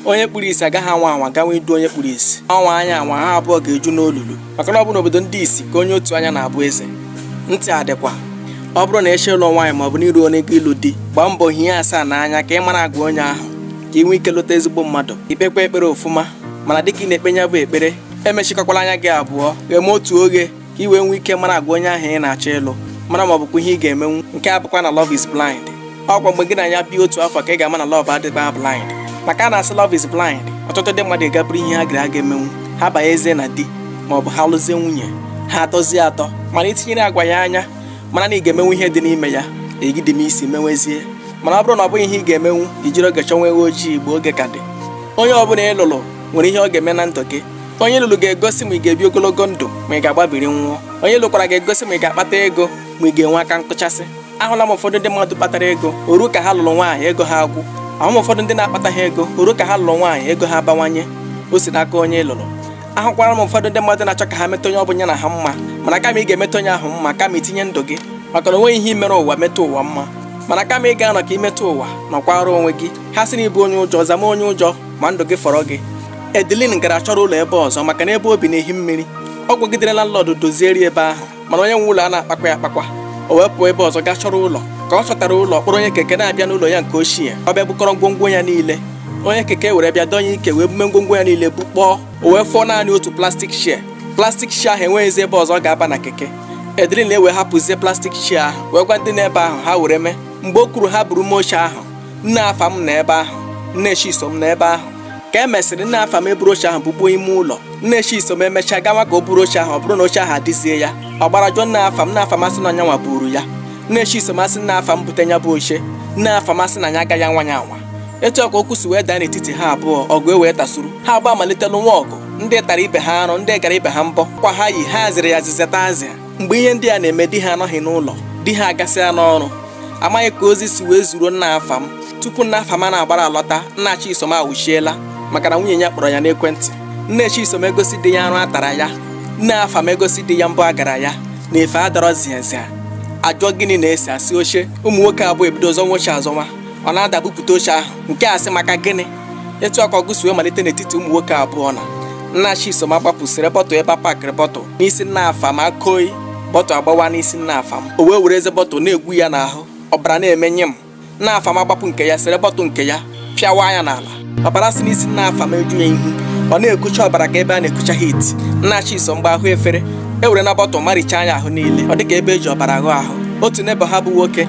onye kpuru isi agaghị anwa anwa gawa idu onye kpuru isi ọ nwaa nya anwa ha abụọ ga-eju n'olulu maka na ọ bụ n'obodo ndị isi ka onye otu anya na-abụ eze ntị adịkwa ọ bụrụ na ị chọ ịlụ nwaanyị maọbụ n'iru onye gị ịlụ di gbaa mbọ hie asaa n'anya ka ị mara agwa onye ahụ ka ị nwee ike lụta ezigbo mmadụ i kpekwa ekpere ofụma mana dịka ị na-ekpe nya bụ ekpere emechikọkwala anya gị abụọ gheme otu oghe ka i wee nwee ike mara agwa onye ahụ ị na-achọ ịlụ mara ma ọ bụkwa ihe ị ga-emenwu nke a bụkwa na love is blind ọ kwa mgbe gị na ya bi otu afọ ka ị ga-ama na love adịba blind maka a na-asị love is blind ọtụtụ ndị mmadụ gaa buru ihe ha gara aga emenwu ha banyezie na di ma ọ bụ ha lụzie nwunye ha atọzie atọ mana i tinyere agwa ya anya mara na ị ga-emenwu ihe dị n'ime ya egide m isi menwezie mana ọ bụrụ na ọ bụghị ihe ị ga-emenwu i jiri oge chọnwa ewu ojii mgbe oge ka dị onye ọbụla ị lụrụ nwere ihe ọ ga-eme na ndụ gị onye ị lụrụ ga-egosi ma ị ga-ebi ogologo ndụ ma ị ga-agbabiri nwụọ onye ị lụkwara ga-egosi ma ị ga-akpata ego ma ị ga-enwe aka nkụchasị ahụla m ụfọdụ ndị mmadụ kpatara ego o ru ka ha lụrụ nwaanyị ego ha agwụ ahụ m ụfọdụ ndị na-akpataghị ego o ru ka ha lụrụ nwaanyị ego ha abawanye o si n'aka onye ị lụrụ ahụkwara m ụfọdụ ndị mmadụ na-achọ ka ha meta onye ọ bụla na ha mma mana kama ị ga-emeta onye ahụ mma kama i tinye ndụ gị maka na o nweghị ihe i mere ụwa meta ụwa mma mana kama ị ga-anọ ka i meta ụwa nọkwara onwe gị ha sị na ị bụ onye ụjọ zama onye ụjọ ma ndụ gị fọrọ gị Edelin gara chọrọ ụlọ ebe ọzọ maka na ebe o bi na-ehi mmiri ọ gwagidere landlord dozieri ebe ahụ mana onye nwe ụlọ a na-akpakwa ya akpakwa o wee pụọ ebe ọzọ gaa chọrọ ụlọ ka ọ chọtara ụlọ kpọrọ onye keke na-abịa n'ụlọ ya nke ochie ọ bịa bukọrọ ngwongwo ya niile onye keke were bịa dọnye ike wee bume ngwongwo ya niile bukpọọ o wee fọọ naanị otu plastic chair plastic chair ahụ enweghịzi ebe ọzọ ọ ga-aba na keke Edelin ewee hapụzie plastic chair ahụ wee gwa ndị nọ ebe ahụ ha were mee mgbe o kwuru ha buruma oche ahụ nne afam nọ ebe ahụ nne chisom nọ ebe ahụ ka e mesịrị nne afam eburu oche ahụ bukpuo ime ụlọ nne chisom emechaa gawa ka o buru oche ahụ ọ bụrụ na oche ahụ adịzie ya ọ gbara jụọ nne afam nne afam asị na ọ nyanwa buru ya nne chisom asị nne afam bute nya bụ oche nne afam asị na nya agaghị anwa ya anwa etu a ka okwu si wee daa n'etiti ha abụọ ọgụ ewee tasuru ha abụọ amalite lụnwa ọgụ ndị tara ibe ha arụ ndị gara ibe ha mbọ akwa ha yi ha zịrị ya zizeta azịa mgbe ihe ndị a na-eme di ha anọghị n'ụlọ di ha agasịa n'ọrụ a maghị ka ozi si wee ziru nna Afam tupu nna Afam ana-agbara alọta nna Chisom awụchiela maka na nwunye ya kpọrọ ya n'ekwentị nne Chisom egosi di ya arụ a tara ya nne Afam egosi di ya mbọ a gara ya na efe a dọrọ ziazia a jụọ gịnị na-ese a sị oche ụmụ nwoke abụọ ebido zọnwa oche azọnwa ọ na-ada bupụta oche ahụ nke a sị maka gịnị etu a ka ọgụ si wee malite n'etiti ụmụ nwoke abụọ na nna chisom agbapụ sere bottle ebe a pakịrị bottle n'isi nna afam akoi bottle agbawa n'isi nna afam o wee were eze bottle na-egwu ya n'ahụ ọbara na-eme nyịm nna afam agbapụ nke ya sere bottle nke ya pịawa ya n'ala ọbara si n'isi nna afam eju ya ihu ọ na-ekucha ọbara ka ebe a na-ekucha heat nna chisom gba ahụ efere e were na bottle maricha nya ahụ niile ọ dịka ebe e ji ọbara ghụọ ahụ otu neighbour ha bụ nwoke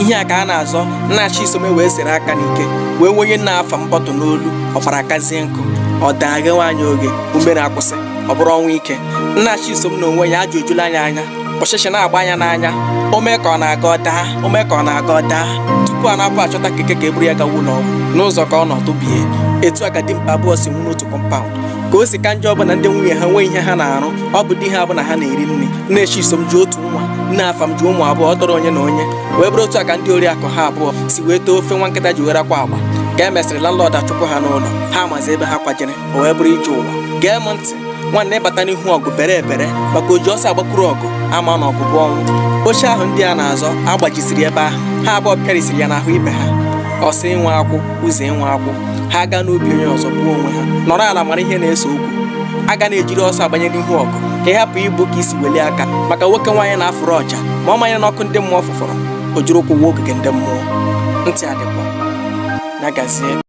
ihe a ka a na-azọ nna Chisom wee sere aka n'ike wee wenye nna Afam bọtụ n'olu ọbara akazie nkụ ọ daa ghe nwaanyị oge ume ya akwụsị ọ bụrụ ọnwụ ike nna Chisom na onwe ya ajụ ejula ya anya ọchịchị na-agba ya n'anya o mee ka ọ na-aga ọ daa o mee ka ọ na-aga ọ daa tupu a na-apụ achọta keke ka e buru ya gawa ụlọ ọgwụ n'ụzọ ka ọ nọ kubie etu a ka dimkpa abụọ si nwụ n'otu kọmpaụnd ka o si ka njọ bụ na ndị nwunye ha enwe ihe ha na-arụ ọ bụ di ha bụ na ha na-eri nri nne Chisom ji otu nwa nne Afam ji ụmụ abụọ ọ tọrọ onye na onye wee bụrụ otu a ka ndị oriakụ ha abụọ si wee too ofe nwa nkịta ji were akwa agba ka e mesịrị landlord achụpụ ha n'ụlọ ha amazi ebe ha kwajere o wee bụrụ ije ụwa gee m ntị nwanne ịbata n'ihu ọgụ bere ebere maka o ji ọsọ agbakuru ọgụ ama na ọgụ bụ ọnwụ oche ahụ ndị a na-azọ agbajisiri ebe ahụ ha abụọ pịarisiri ya n'ahụ ibe ha ọsa nwe akwụ uze nwe akwụ ha aga n'obi onye ọzọ gbuo onwe ha nọrọ ala mara ihe na-ese okwu aga na-ejiri ọsọ agbanye n'ihu ọgụ ka ị hapụ igbo ka isi welie aka maka nwoke nwaanyị na-afụrụ ọja ma ọ manye n'ọkụ ndị mmụọ fụfọrọ o jiri ụkwụ waa ogige ndị mmụọ ntị adịkwa ya gazie